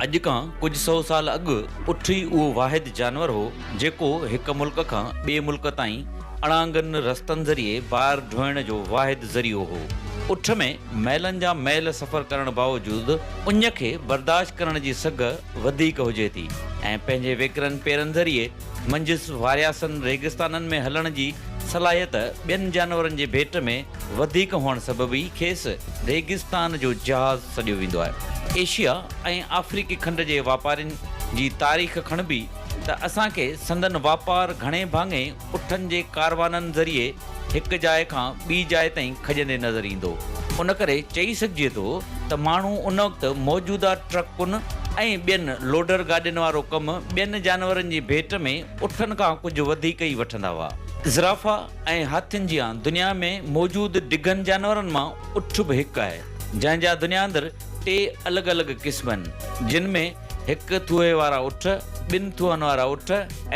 اڄ کان ڪجهه سؤ سال اڳ اٺ ئي اهو واحد جانور هو جيڪو هڪ ملڪ کان ٻئي ملڪ تائين اڻانگن رستن ذريعي بار ڍوئڻ جو واحد ذريعو هو. اٺ ۾. ميلن جا ميل سفر ڪرڻ باوجود اڃ کي برداشت ڪرڻ جي سگهه وڌيڪ هجي ٿي ۽ پنهنجي ويڪرن پيرن ذريعي منجهس وارياسن ريگستانن ۾ هلڻ جي صلاحيت ٻين جانورن جي ڀيٽ ۾ وڌيڪ هئڻ سبب ئي کيس ريگستان جو جهاز سڏيو ويندو آهي. ايشيا ۽ آفريڪي کنڊ جي واپارين جي تاريخ کڻبي ته اسان کي سندن واپار گهڻي ڀاڱي اٺن جي ڪاروانن ذريعي هڪ جاء کان ٻي جاء تائين کڄندي نظر ايندو. ان ڪري چئي سگهجي ٿو ته ماڻهو ان وقت موجوده ٽرڪن ۽ ٻين لوڊر گاڏين وارو ڪم ٻين جانورن جي ڀيٽ ۾ اٺن کان ڪجهه وڌيڪ ئي وٺندا هئا. زرافا ۽ هاٿين جيان دنيا ۾ موجود ڊگهن جانورن مان اٺ به هڪ آهي، جنهن جا دنيا اندر ٽي الڳ الڳ قسم آهن، جن ۾. هڪ ٿوهي وارا اٺ، ٻن ٿوهن وارا اٺ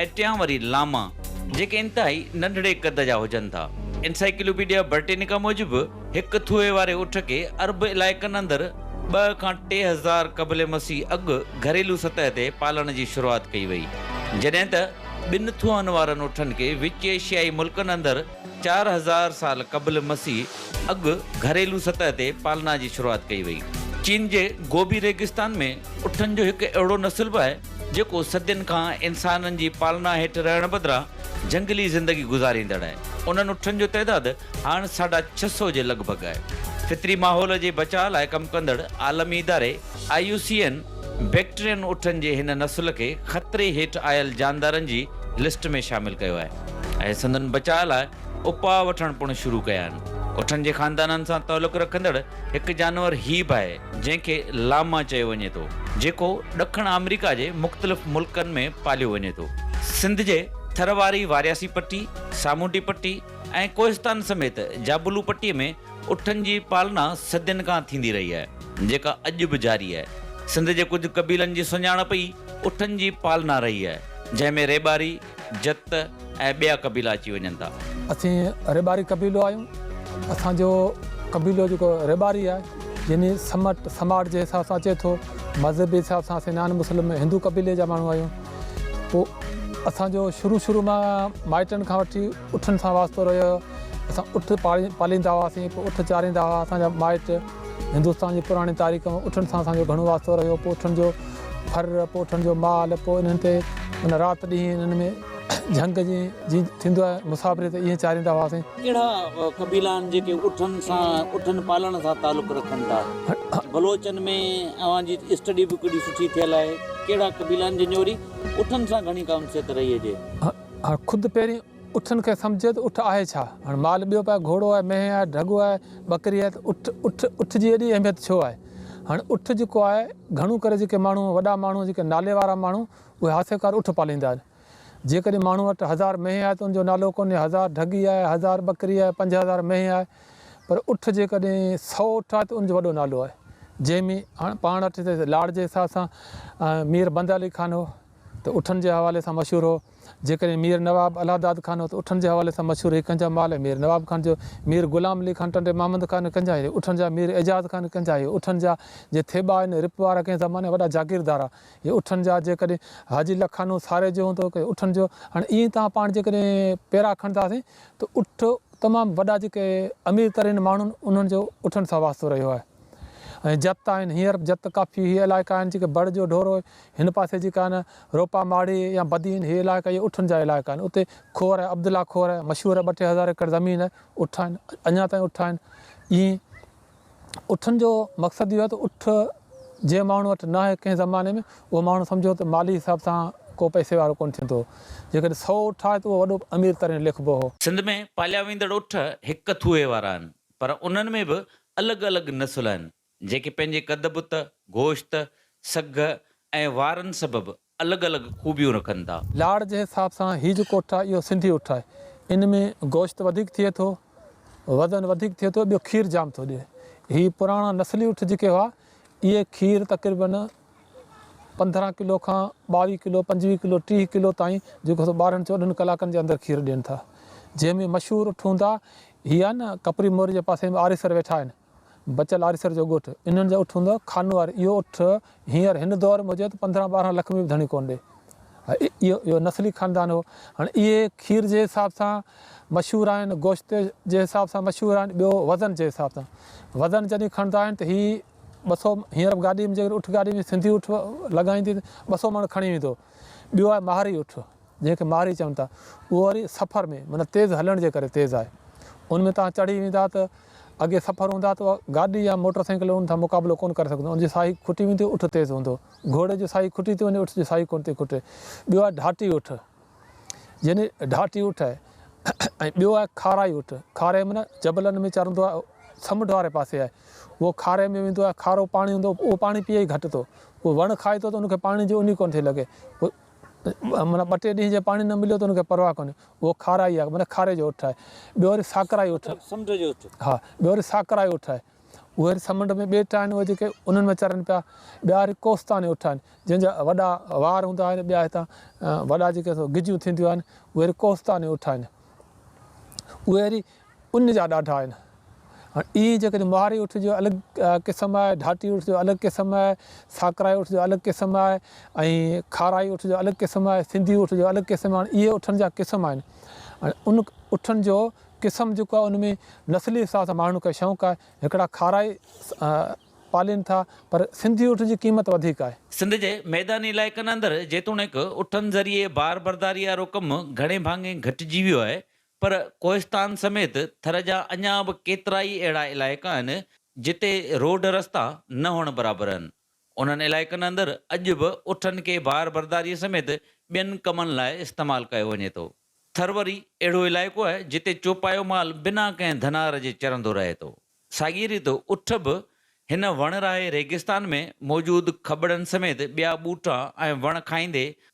۽ ٽيان وري لاما، جيڪي انتهائي ننڍڙي قد جا هجن ٿا. انسائيڪلوپيڊيا برٽينيڪا موجب، هڪ ٿوهي واري اٺ کي عرب علائقن اندر ٻه کان ٽي هزار قبل مسيح اڳ گهريلو سطح تي پالڻ جي شروعات ڪئي وئي، جڏهن ته ٻن ٿوهن وارن اٺن کي وچ ايشيائي ملڪن اندر چار هزار سال قبل مسيح اڳ گهريلو سطح تي پالنا جي شروعات ڪئي وئي. چين جي گوبي ريگستان ۾ اٺن جو هڪ اهڙو نسل به آهي، جيڪو صدين کان انسانن جي پالنا هيٺ رهڻ بدران جهنگلي زندگي گذاريندڙ آهي. انهن اٺن جو تعداد هاڻ ساڍا ڇهه سؤ جي لڳ ڀڳ آهي. فطري ماحول جي بچاء لاء ڪم ڪندڙ عالمي اداري، I U C N Bactrian اٺن جي هن نسل کي خطري هيٺ آيل جاندارن جي لسٽ ۾ شامل ڪيو آهي ۽ سندن بچاء لاء اپاء وٺڻ پڻ شروع ڪيا آهن. اٺن جي خاندانن سان تعلق رکندڙ هڪ جانور هي به آهي جنهن کي لاما چيو وڃي ٿو جيڪو ڏکڻ آمريڪا جي مختلف ملڪن ۾ پاليو وڃي ٿو. سنڌ جي ٿر واري وارياسي پٽي، سامونڊي پٽي ۽ ڪوهستان سميت جابلو پٽي ۾ اٺن جي پالنا صدين کان ٿيندي رهي آهي، جيڪا اڄ به جاري آهي. سنڌ جي ڪجهه قبيلن جي سڃاڻپ ئي اٺن جي پالنا رهي آهي، جنهن ۾ ريٻاري، جت ۽ ٻيا قبيلا اچي وڃن ٿا. اسين ريٻاري قبيلو آهيون. اسان جو قبيلو جيڪو ريٻاري آهي، يعني سمٽ سماٽ جي حساب سان اچي ٿو. مذهبي حساب سان اسين نان مسلم هندو قبيلي جا ماڻهو آهيون. پوء اسان جو شروع شروع مان مائٽن کان وٺي اٺن سان واسطو رهيو آهي. اسان اٺ پاليندا هئاسين، پوء اٺ چاريندا هئا اسان جا مائٽ. هندستان جي پراڻي تاريخ ۾ اٺن سان اسان جو گهڻو واسطو رهيو. پوء اٺن جو ڦر، پوء اٺن جو مال، پوء انهن تي معنيٰ رات ڏينهن انهن ۾ جهنگ جيئن ٿيندو آهي مسافري تي ايئن چاريندا هئاسين. ڪهڙا قبيلا آهن جيڪي اٺن سان اٺن پالڻ سان تعلق رکن ٿا؟ بلوچن ۾ اوهان جي اسٽڊي به ڪيڏي سٺي ٿيل آهي. ڪهڙا قبيلا آهن جن جي وري اٺن سان گهڻي ڪانسيت رهي هجي؟ خود پهرين. اٺن کي سمجهي ته اٺ آهي ڇا؟ هاڻ مال ٻيو به آهي، گهوڙو آهي، مينهن آهي، ڍڳو آهي، ٻڪري آهي ته اٺ، اٺ، اٺ جي ايڏي اهميت ڇو آهي؟ هاڻ اٺ جيڪو آهي، گهڻو ڪري جيڪي ماڻهو، وڏا ماڻهو، جيڪي نالي وارا ماڻهو، اهي هاسيڪار اٺ پاليندا آهن. جيڪڏهن ماڻهو وٽ هزار مينهن آهي ته ان جو نالو ڪونهي، هزار ڍڳي آهي، هزار ٻڪري آهي، پنج هزار مينهن آهي، پر اٺ جيڪڏهن سؤ اٺ آهي ته ان جو وڏو نالو آهي. جنهن ۾ هاڻ پاڻ وٽ لاڙ جي حساب سان مير بند علي خان هو ته اٺن جي حوالي سان مشهور هو. جيڪڏهن مير نواب الهداد خان هوت اٺن جي حوالي سان مشهور هي ڪنهن جا مال ۽ مير نواب خان جو مير غلام علي خان ٽنڊي محمد خان ڪنهن جا هي اٺن جا مير اعجاز خان ڪنهن جا هي اٺن جا جي ٿيٻا آهن رپ وارا ڪنهن زماني جا وڏا جاگيردار آ هي اٺن جا جيڪڏهن حاجي لکانو ساري جو هوندو ڪنهن اٺن جو هاڻي ائين توهان پاڻ جيڪڏهن پيرا کڻنداسين ته اٺ تمام وڏا جيڪي امير ترين ماڻهن انهن جو اٺن سان واسطو رهيو آهي ۽ جت آهن هينئر به جت ڪافي هي علائقا آهن جيڪي بڙ جو ڍورو هن پاسي جيڪا آهن روپا ماڙي يا بدين هي علائقا اهي اٺن جا علائقا آهن اتي کور عبدالله کور مشهور ٻه ٽي هزار ايڪڙ زمين اٺ آهن اڃا تائين اٺ آهن اي اٺن جو مقصد اهو آهي ته اٺ جنهن ماڻهو وٽ نه آهي ڪنهن زماني ۾ اهو ماڻهو سمجهو ته مالي حساب سان ڪو پئسي وارو ڪونه ٿيندو هو جيڪڏهن سؤ اٺ آهي ته اهو وڏو امير ترين ليکبو هو. سنڌ ۾ پاليا ويندڙ اٺ هڪ ٿوهي وارا آهن پر انهن ۾ به الڳ الڳ نسل آهن جيڪي پنهنجي قد بت، گوشت، سگهه ۽ وارن سبب الڳ الڳ خوبيون رکن ٿا. لاڙ جي حساب سان هي جيڪو اٺ آهي اهو سنڌي اٺ آهي ان ۾ گوشت وڌيڪ ٿئي ٿو وزن وڌيڪ ٿئي ٿو ٻيو کير جام ٿو ڏئي هي پراڻا نسلي اٺ جيڪي هئا اهي کير تقريبن پندرهن ڪلو کان ٻاويهه ڪلو پنجويهه ڪلو ٽيهه ڪلو تائين جيڪو سو ٻارهن چوڏهن ڪلاڪن جي اندر کير ڏين ٿا جنهن ۾ مشهور اٺ هوندا هي آهي نه ڪپري موري جي پاسي ۾ آريسر ويٺا آهن بچل آريسر جو ڳوٺ انهن جا اٺ هوندو خانوار اهو اٺ هينئر هن دور موجد پندرهن ٻارهن لک ۾ به ڌڻي ڪونه ڏي اهو اهو نسلي خاندان هو هاڻي اهي کير جي حساب سان مشهور آهن گوشت جي حساب سان مشهور آهن ٻيو وزن جي حساب سان وزن جڏهن کڻندا آهن ته هي ٻه سو هينئر گاڏي ۾ جيڪڏهن اٺ گاڏي ۾ سنڌي اٺ لڳائيندي ته ٻه سو مڻ کڻي ويندو ٻيو آهي ماهري اٺ جنهن کي مارئي چون ٿا، اهو وري سفر ۾ معنيٰ تيز هلڻ جي ڪري تيز آهي. ان ۾ توهان چڙهي ويندا ته اڳي سفر هوندا ته اها گاڏي يا موٽر سائيڪل ان سان مقابلو ڪونه ڪري سگهندو، ان جي ساهي کٽي ويندي، اٺ تيز هوندو. گهوڙي جي ساهي کٽي ٿي وڃي، اٺ جي ساهي ڪونه ٿي کٽي. ٻيو آهي ڍاٽي اٺ، يعني ڍاٽي اٺ آهي ۽ ٻيو آهي کارائي اٺ، کارائي معنيٰ جبلن ۾ چرندو آهي، سمنڊ واري پاسي آهي. اهو کارائي ۾ ويندو آهي، کارو پاڻي هوندو، اهو پاڻي پيئي گهٽ ٿو. اهو وڻ کائي ٿو ته ان کي پاڻي جي اونهي ڪونه ٿي لڳي. معنيٰ ٻه ٽي ڏينهن جي پاڻي نه مليو ته ان کي پرواهه ڪونهي. اهو کارائي آهي، معنيٰ کاري جو اٺ آهي. ٻيو وري ساڪرائي اٺ. سمنڊ جو اٺ. ها، ٻيو وري ساڪرائي اٺ آهي. اهي وري سمنڊ ۾ ٻيٽ آهن، اهي جيڪي انهن ۾ چرن پيا. ٻيا وري ڪوستاني اٺ آهن، جن جا وڏا وار هوندا آهن. ٻيا هتان وڏا جيڪي سو گجيون ٿينديون آهن، اهي وري ڪوستاني اٺ آهن. اهي وري. ان جا ڏاڍا آهن. هاڻي ائين جيڪڏهن مهاري اٺ جو الڳ قسم آهي، ڍاٽي اٺ جو الڳ قسم آهي، ساڪرائي اٺ جو الڳ قسم آهي ۽ کارائي اٺ جو الڳ قسم آهي، سنڌي اٺ جو الڳ قسم آهي. هاڻي اهي اٺن جا قسم آهن. هاڻي ان اٺن جو قسم جيڪو آهي ان ۾ نسلي حساب سان ماڻهن کي شونق آهي. هڪڙا کارائي پالين ٿا پر سنڌي اٺ جي قيمت وڌيڪ آهي. سنڌ جي ميداني علائقن اندر جيتوڻيڪ اٺن ذريعي بار برداري وارو ڪم گهڻي ڀاڱي گهٽجي ويو آهي پر ڪوهستان سميت ٿر جا اڃا به ڪيترائي اهڙا علائقا آهن جتي روڊ رستا نه هئڻ برابر آهن. انهن علائقن اندر اڄ به اٺن کي بار برداري سميت ٻين ڪمن لاء استعمال ڪيو وڃي ٿو. ٿر وري اهڙو علائقو آهي جتي چوپايو مال بنا ڪنهن ڌنار جي چرندو رهي ٿو. ساڳيء ريت اٺ به هن وڻ راهي ريگستان ۾ موجود کٻڙن سميت ٻيا ٻوٽا ۽ وڻ کائيندي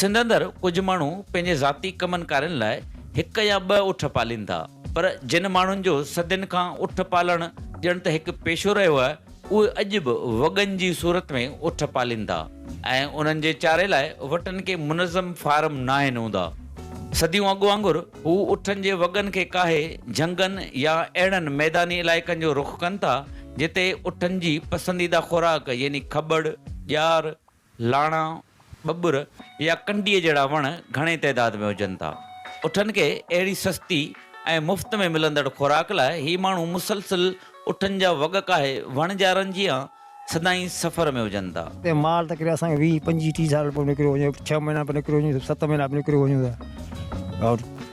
سنڌ اندر ڪجهه ماڻهو پنهنجي ذاتي ڪمن ڪارين لاء هڪ يا ٻه اٺ پالين ٿا پر جن ماڻهن جو صدين کان اٺ پالڻ ڄڻ ته هڪ پيشو رهيو آهي اهي اڄ به وڳن جي صورت ۾ اٺ پالين ٿا ۽ انهن جي چاري لاء وٽن ڪي منظم فارم ناهن هوندا. صديون اڳ وانگر هو اٺن جي وڳن کي ڪاهي جهنگن يا اهڙن ميداني علائقن جو رخ ڪن ٿا جتي اٺن جي پسنديده خوراڪ يعني کٻڙ، ڄار، لاڻا، ٻٻر يا ڪنڊيء جهڙا وڻ گهڻي تعداد ۾ هجن ٿا. اٺن کي اهڙي سستي ۽ مفت ۾ ملندڙ خوراڪ لاء هي ماڻهو مسلسل اٺن جا وڳ ڪاهي وڻجارن جيان سدائين سفر ۾ هجن ٿا. اتي مال ته ڪڏهن اسان کي ويهه، پنجويهه، ٽيهه سال به نڪريو وڃي، ڇهه مهينا به نڪريو وڃي، ست مهينا به نڪريو وڃي ته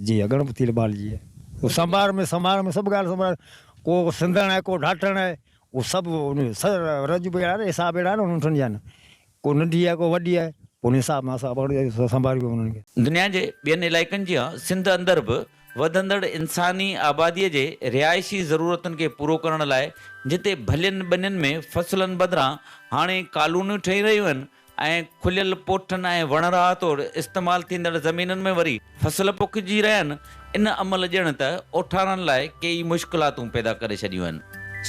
جي اڳڻ به تيل ٻال جي. او سنڀار ۾ سنڀار ۾ سڀ ڳالهه سنڀار ڪو سنڌڻ آهي ڪو ڍاٽڻ آهي او سڀ رج به اهڙا حساب اهڙا آهن ان ٺنڊي آهن ڪو ننڍي آهي ڪو وڏي آهي ان حساب مان سڀ سنڀار به انهن کي. دنيا جي ٻين علائقن جيان سنڌ اندر به وڌندڙ انساني آبادي جي رهائشي ضرورتن کي پورو ڪرڻ لاء جتي ڀلين ٻنين ۾ فصلن بدران هاڻي ڪالونيون ٺهي رهيون آهن ۽ کليل پوٺن ۽ وڻرا توڙي استعمال ٿيندڙ زمينن ۾ وري فصل پوکجي رهيا آهن، ان عمل ڄڻ ته اوٺارن لاء ڪي ئي مشڪلاتون پيدا ڪري ڇڏيون آهن.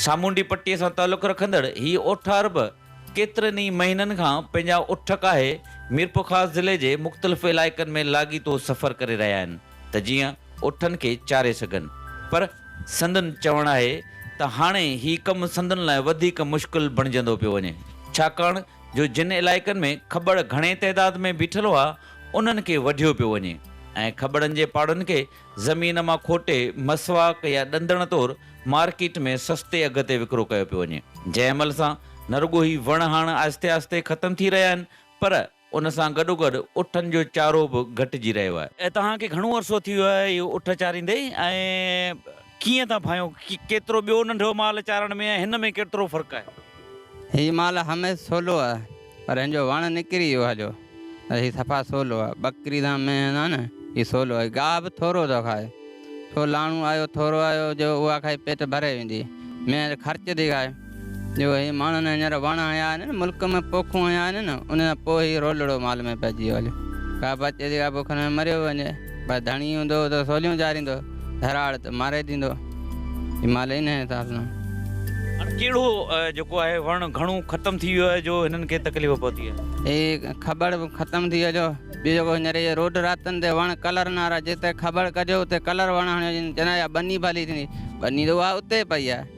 سامونڊي پٽي سان تعلق رکندڙ هي اوٺار به ڪيترن ئي مهينن کان پنهنجا اٺ ڪاهي ميرپورخاص ضلعي جي مختلف علائقن ۾ لاڳيتو سفر ڪري رهيا آهن ته جيئن اٺن کي چاري سگهن پر سندن چوڻ آهي ته هاڻي هي ڪم سندن لاء وڌيڪ مشڪل بڻجندو پيو وڃي ڇاڪاڻ جو جن علائقن ۾ کٻڙ گهڻي تعداد ۾ بيٺل هئا، انهن کي وڍيو پيو وڃي ۽ کٻڙن جي پاڙن کي زمين مان کوٽي مسواڪ يا ڏندڻ طور مارڪيٽ ۾ سستي اگهه تي وڪرو ڪيو پيو وڃي، جنهن عمل سان نه رڳو هي وڻ هاڻ آهستي آهستي ختم ٿي رهيا آهن، پر ان سان گڏوگڏ اٺن جو چارو به گهٽجي رهيو آهي. توهان کي گهڻو عرصو ٿي ويو آهي اهي اٺ چاريندي ۽. ڪيئن ٿا ڀانئيو؟ ڪيترو ٻيو ننڍو مال چارڻ ۾ ۽ هن ۾ ڪيترو فرق آهي؟ هي مال هميس سولو آهي پر هن جو وڻ نڪري ويو آهي جو هي صفا سولو آهي. ٻڪري سان مينهن سان نه هي سولو آهي گاهه به ٿورو ٿو کائي. سو لاڻو آيو ٿورو آيو جو اها کائي پيٽ ڀري ويندي. مينهن خرچ ٿي کائي. جو هي ماڻهن هينئر وڻ هنيا آهن، ملڪ ۾ پوکون هنيا آهن، انهن کان پوء هي رولڙو مال ۾ پئجي ويو هليو. ڪا بچي ٿي ڪا بکن ۾ مريو وڃي. پر ڌڻي هوندو ته سوليون چاريندو، ڌراڙ ته ماري ڏيندو. هي مال انهيء حساب سان آهي. هاڻ ڪهڙو جيڪو آهي وڻ گهڻو ختم ٿي ويو آهي جو هنن کي تڪليف پهتي آهي. هي کٻڙ به ختم ٿي هليو. ٻيو جيڪو هينئر اهي روڊ راتن تي وڻ ڪلرن وارا جتي کٻڙ ڪجيو اتي ڪلر وڻ هڻيو وڃي. چوندا هيا ٻني ڀلي ٿيندي. ٻني ته اها اتي پئي آهي.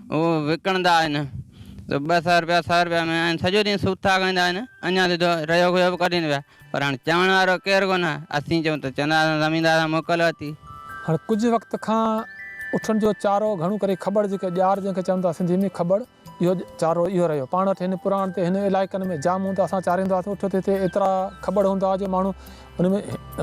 هو وڪڻندا آهن ته ٻه سئو رپيا سئو رپيا ۾ ۽ سڄو ڏينهن سوٿا کائيندا آهن اڃا سڌو رهيو کهيو به ڪڍين پيا پر هاڻ چوڻ وارو ڪير ڪونه اسين چئون ته چوندا اسان زميندار سان موڪل ورتي. هاڻ ڪجهه وقت کان اٺن جو چارو گهڻو ڪري کٻڙ جيڪي ڄار جنهن کي چون ٿا سنڌي ۾ کٻڙ اهو چارو اهو رهيو پاڻ وٽ هن پراڻ تي هن علائقن ۾ جام هوندا اسان چاريندا هئاسين اٺ تي هتي ايترا کٻڙ هوندا هئا جو ماڻهو ان ۾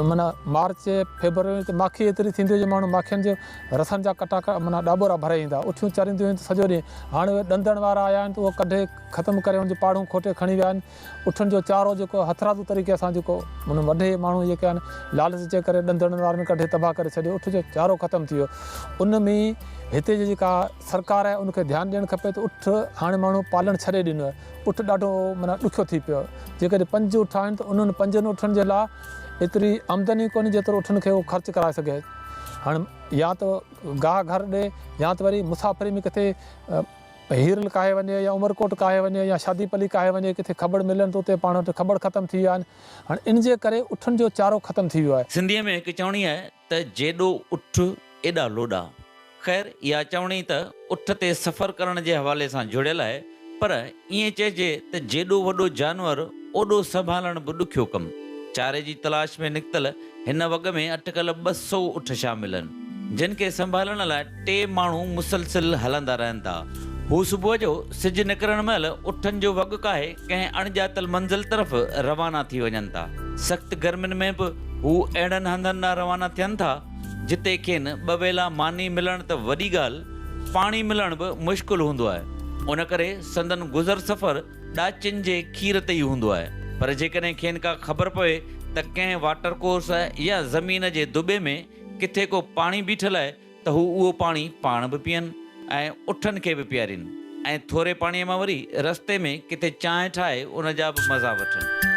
معنيٰ مارچ فيبروري ۾ ته ماکي ايتري ٿيندي هئي جو ماڻهو ماکين جي رسن جا ڪٽا معنيٰ ڏاٻورا ڀري ايندا هئا. اٺيون چرينديون هيون ته سڄو ڏينهن. هاڻي اهي ڏندڻ وارا آيا آهن ته اهو ڪڍي ختم ڪري ان جون پاڙون کوٽي کڻي ويا آهن. اٺن جو چارو جيڪو هٿرادو طريقي سان جيڪو معنيٰ وڍي ماڻهو جيڪي آهن لالچ جي ڪري ڏندڻن وارن ڪڍي تباهه ڪري ڇڏيو. اٺ جو چارو ختم ٿي ويو. ان ۾ هتي جي جيڪا سرڪار آهي ان کي ڌيان ڏيڻ کپي ته اٺ هاڻي ماڻهو پالڻ ڇڏي ڏنو آهي. اٺ ڏاڍو معنيٰ ڏکيو ٿي پيو. جيڪڏهن پنج اٺ آهن ته انهن پنجن اٺن جي لاء ايتري آمدن ئي ڪونهي جيترو اٺن کي هو خرچ ڪرائي سگهي. هاڻ يا ته گاهه گهر ڏي يا ته وري مسافري ۾ ڪٿي هيرل ڪاهي وڃي يا عمرڪوٽ ڪاهي وڃي يا شادي پلي ڪاهي وڃي ڪٿي کٻڙ ملن ته اتي پاڻ وٽ کٻڙ ختم ٿي ويا آهن. هاڻ ان جي ڪري اٺن جو چارو ختم ٿي ويو آهي. سنڌيء ۾ هڪ چوڻي آهي. ته جيڏو اٺ ايڏا لوڏا. خير اها چوڻي ته اٺ تي سفر ڪرڻ جي حوالي سان جڙيل آهي پر ائين چئجي ته جيڏو وڏو جانور اوڏو سنڀالڻ به ڏکيو ڪم. چاري جي تلاش ۾ نڪتل هن وڳ ۾ اٽڪل ٻه سؤ اٺ شامل آهن جن کي سنڀالڻ لاء ٽي ماڻهو مسلسل هلندا رهن ٿا. هو صبح جو سج نڪرڻ مهل اٺن جو وڳ ڪاهي ڪنهن اڻڄاتل منزل طرف روانا ٿي وڃن ٿا. سخت گرمين ۾ به هو اهڙن هنڌن ڏانهن روانا ٿين ٿا، جتي کين ٻه ويلا ماني ملڻ ته وڏي ڳالهه، پاڻي ملڻ به مشڪل هوندو آهي. ان ڪري سندن گذر سفر ڏاچين جي کير تي ئي هوندو آهي. پر جيڪڏهن کين ڪا خبر پوي ته ڪنهن واٽر ڪورس يا زمين جي دٻي ۾ ڪٿي ڪو پاڻي بيٺل آهي، ته هو اهو پاڻي پاڻ به پيئن ۽ اٺن کي به پيارين ۽ ٿوري پاڻيء مان وري رستي ۾ ڪٿي چانهه ٺاهي ان جا به مزا وٺن.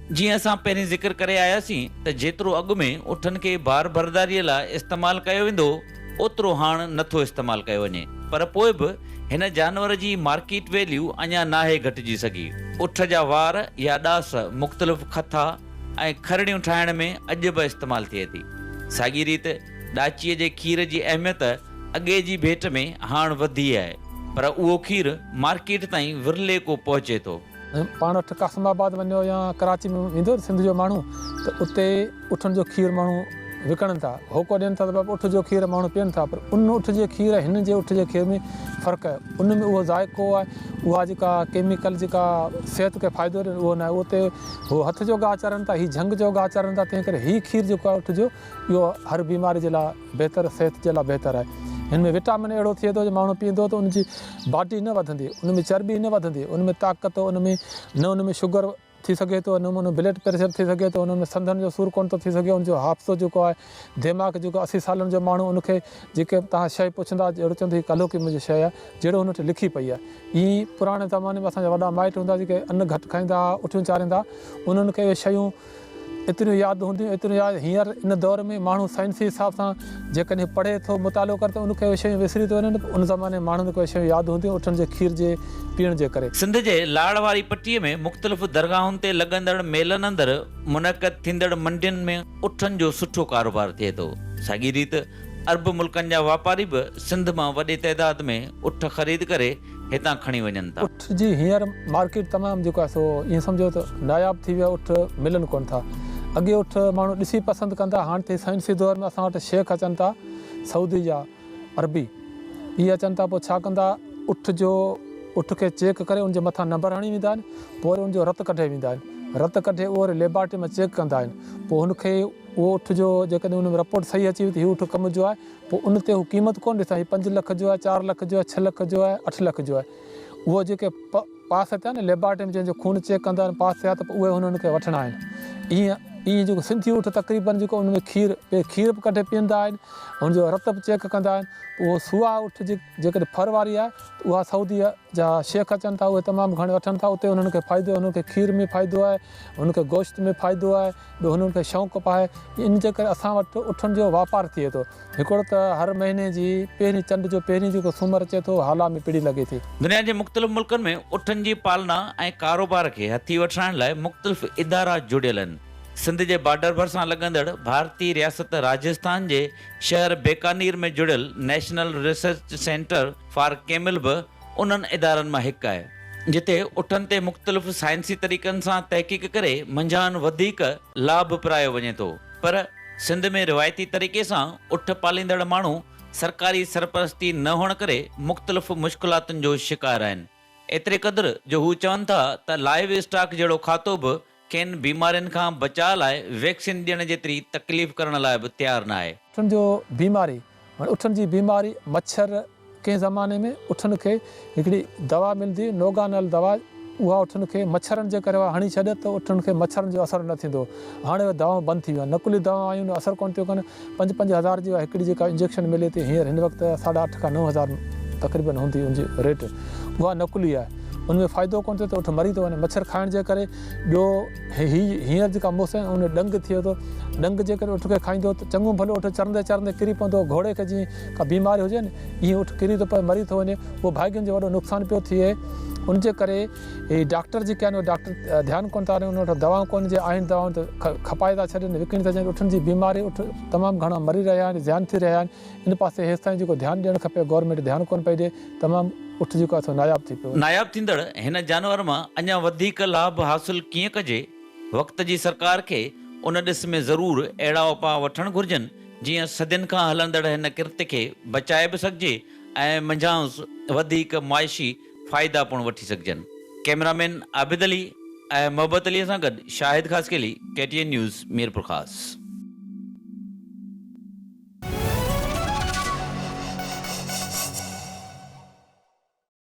جيئن اسان پهرين ذڪر ڪري آياسين ته جيترو اڳ ۾ اٺن کي بار برداريء لاء استعمال ڪيو ويندو هو، اوترو هاڻ نه ٿو استعمال ڪيو وڃي، پر پوء به هن جانور جي مارڪيٽ ويليو اڃا ناهي گهٽجي سگهي. اٺ جا وار يا ڏاس مختلف کٿا ۽ کرڙيون ٺاهڻ ۾ اڄ به استعمال ٿئي ٿي. ساڳيء ريت ڏاچيء جي کير جي اهميت اڳي جي ڀيٽ ۾ هاڻ وڌي آهي، پر اهو کير مارڪيٽ تائين ورلي ڪو پهچي ٿو. پاڻ اٺ قاسم آباد وڃو يا ڪراچي ۾ ويندو سنڌ جو ماڻهو ته اتي اٺن جو کير ماڻهو وڪڻن ٿا هوڪو ڏين ٿا ته اٺ جو کير ماڻهو پين ٿا پر ان اٺ جي کير ۽ هن جي اٺ جي کير ۾ فرق آهي ان ۾ اهو ذائقو آهي اها جيڪا ڪيميڪل جيڪا صحت کي فائدو ڏين اهو ناهي اتي هو هٿ جو گاهه چرن ٿا هي جهنگ جو گاهه چرن ٿا تنهن ڪري هي کير جيڪو آهي اٺ جو اهو هر بيماري جي لاء بهتر صحت جي لاء بهتر آهي هن ۾ وٽامن اهڙو ٿئي ٿو جو ماڻهو پيئندو ته ان جي باڊي نه وڌندي ان ۾ چرٻي نه وڌندي ان ۾ طاقت ان ۾ نه ان ۾ شگر ٿي سگهي ٿو نه ان ۾ بلڊ پريشر ٿي سگهي ٿو ان ۾ سنڌن جو سور ڪونه ٿو ٿي سگهي ان جو حافظو جيڪو آهي ديماغ جيڪو اسي سالن جو ماڻهو ان کي جيڪي توهان شي پڇندا جهڙو چوندو هي ڪلهوڪي منهنجي شي آهي جهڙو هن وٽ لکي پئي آهي ايئن پراڻي زماني ۾ اسان جا وڏا مائٽ هوندا جيڪي ان گهٽ کائيندا اٺيون چاريندا انهن کي اهي شيون ايتريون ياد هونديون، ايتريون ياد هينئر ان دور ۾ ماڻهو سائنسي حساب سان جيڪڏهن پڙهي ٿو، مطالعو ڪري ٿو ان ڪي شيون وسري ٿيون وڃن، ان زماني ماڻهن ڪي شيون ياد هونديون اٺن جي کير جي پيئڻ جي ڪري. سنڌ جي لاڙ واري پٽي ۾ مختلف درگاهن تي لڳندڙ ميلن اندر منعقد ٿيندڙ منڊين ۾ اٺن جو سٺو ڪاروبار ٿئي ٿو. ساڳي ريت عرب ملڪن جا واپاري به سنڌ مان وڏي تعداد ۾ اٺ خريد ڪري هتان کڻي وڃن ٿا. اٺ جي هينئر مارڪيٽ تمام جيڪو آهي سو ائين سمجهو ته ناياب ٿي ويو آهي اٺ ملن ڪونه ٿا اڳي اٺ ماڻهو ڏسي پسند ڪندا ها هاڻ ٿي سائنسي دور ۾ اسان وٽ شيخ اچن ٿا سعودي جا عربي اهي اچن ٿا پوء ڇا ڪندا اٺ جو اٺ کي چيڪ ڪري ان جي مٿان نمبر هڻي ويندا آهن پوء وري ان جو رت ڪڍي ويندا آهن رت ڪڍي اهو وري ليبارٽري مان چيڪ ڪندا آهن پوء هن کي اهو اٺ جو جيڪڏهن ان ۾ رپورٽ صحيح اچي وئي ته هي اٺ ڪم جو آهي پوء ان تي هو قيمت ڪونه ڏسندا هي پنج لک جو آهي چار لک جو آهي ڇهه لک جو آهي اٺ لک جو آهي اهو جيڪي پ پاس ٿيا نه ليبارٽري ۾ جنهن جو خون چيڪ ڪندا آهن پاس ٿيا ته پوء اهي هنن کي وٺڻا آهن ايئن ايئن جيڪو سنڌي اٺ تقريبن جيڪو ان ۾ کير پي کير به ڪڍي پيئندا آهن هن جو رت به چيڪ ڪندا آهن اهو سوا اٺ جي جيڪڏهن ڦر واري آهي ته اها سعودي جا شيخ اچن ٿا اهي تمام گهڻي وٺن ٿا اتي هنن کي فائدو هنن کي کير ۾ فائدو آهي هن کي گوشت ۾ فائدو آهي ٻيو هنن کي شوق به آهي ان جي ڪري اسان وٽ اٺن جو واپار ٿئي ٿو هڪڙو ته هر مهيني جي پهرين چنڊ جو پهرين جيڪو سومر اچي ٿو هالا ۾ پڙي لڳي ٿي. دنيا جي مختلف ملڪن ۾ اٺن جي پالنا ۽ ڪاروبار کي هٿي وٺرائڻ لاء مختلف ادارا جڙيل آهن سنڌ جي بارڊر ڀرسان لڳندڙ ڀارتي رياست راجسٿان جي شهر بيڪانير ۾ جڙيل national research centre for camel به انهن ادارن مان هڪ آهي، جتي اٺن تي مختلف سائنسي طريقن سان تحقيق ڪري منجهان وڌيڪ لاڀ پرايو وڃي ٿو، پر سنڌ ۾ روايتي طريقي سان اٺ پاليندڙ ماڻهو سرڪاري سرپرستي نه هئڻ ڪري مختلف مشڪلاتن جو شڪار آهن، ايتري قدر جو هو چون ٿا ته لائيو اسٽاڪ جهڙو کاتو به کين بيمارين کان بچاء لاء ويڪسين ڏيڻ جيتري تڪليف ڪرڻ لاء به تيار ناهي. اٺن جو بيماري، هن اٺن جي بيماري، مڇر، ڪنهن زماني ۾ اٺن کي هڪڙي دوا ملندي هئي نوگانل دوا اها اٺن کي مڇرن جي ڪري اها هڻي ڇڏ ته اٺن کي مڇرن جو اثر نه ٿيندو هاڻي اهي دوائون بند ٿي ويون آهن نقلي دوائون آيون اثر ڪونه ٿيون ڪن پنج پنج هزار جي اها هڪڙي جيڪا انجيڪشن ملي ٿي هينئر هن وقت ساڍا اٺ کان نو هزار تقريبن هوندي ان جي ريٽ اها نقلي آهي ان ۾ فائدو ڪونه ٿئي ته اٺ مري ٿو وڃي مڇر کائڻ جي ڪري ٻيو هي هينئر جيڪا موسم آهي ان ڏنگ ٿئي ٿو ڏنگ جي ڪري اٺ کي کائيندو ته چڱو ڀلو اٺ چرندي چرندي ڪري پوندو گهوڙي کي جيئن ڪا بيماري هجي نه ايئن اٺ ڪري ٿو پوي مري ٿو وڃي اهو ڀاڳين جو وڏو نقصان پيو ٿئي ان جي ڪري هي ڊاڪٽر جيڪي آهن اهي ڊاڪٽر ڌيان ڪونه ٿا ڏين انهن وٽ دوائون ڪونه جي آهن دوائون ته کپائي ٿا ڇڏين وڪڻي ٿا ڇڏين اٺن جي بيماري اٺ تمام گهڻا مري رهيا آهن زيان ٿي رهيا آهن ان پاسي هيستائين جيڪو ڌيان ڏيڻ کپي گورنمينٽ ڌيان ڪونه پئي ڏي تمام اٺ جيڪو آهي سو ناياب ٿي پيو ناياب ٿيندڙ هن جانور مان اڃا وڌيڪ لاڀ حاصل ڪيئن ڪجي وقت جي سرڪار کي ان ڏس ۾ ضرور اهڙا اپاء وٺڻ گهرجن جيئن صدين کان هلندڙ هن ڪرت کي بچائي به سگهجي ۽ منجهانئس وڌيڪ معاشي فائدا پڻ وٺي سگهجن. ڪئميرامين عابد علي ۽ محبت علي سان گڏ Shahid Khaskheli, K T N news, Mirpurkhas.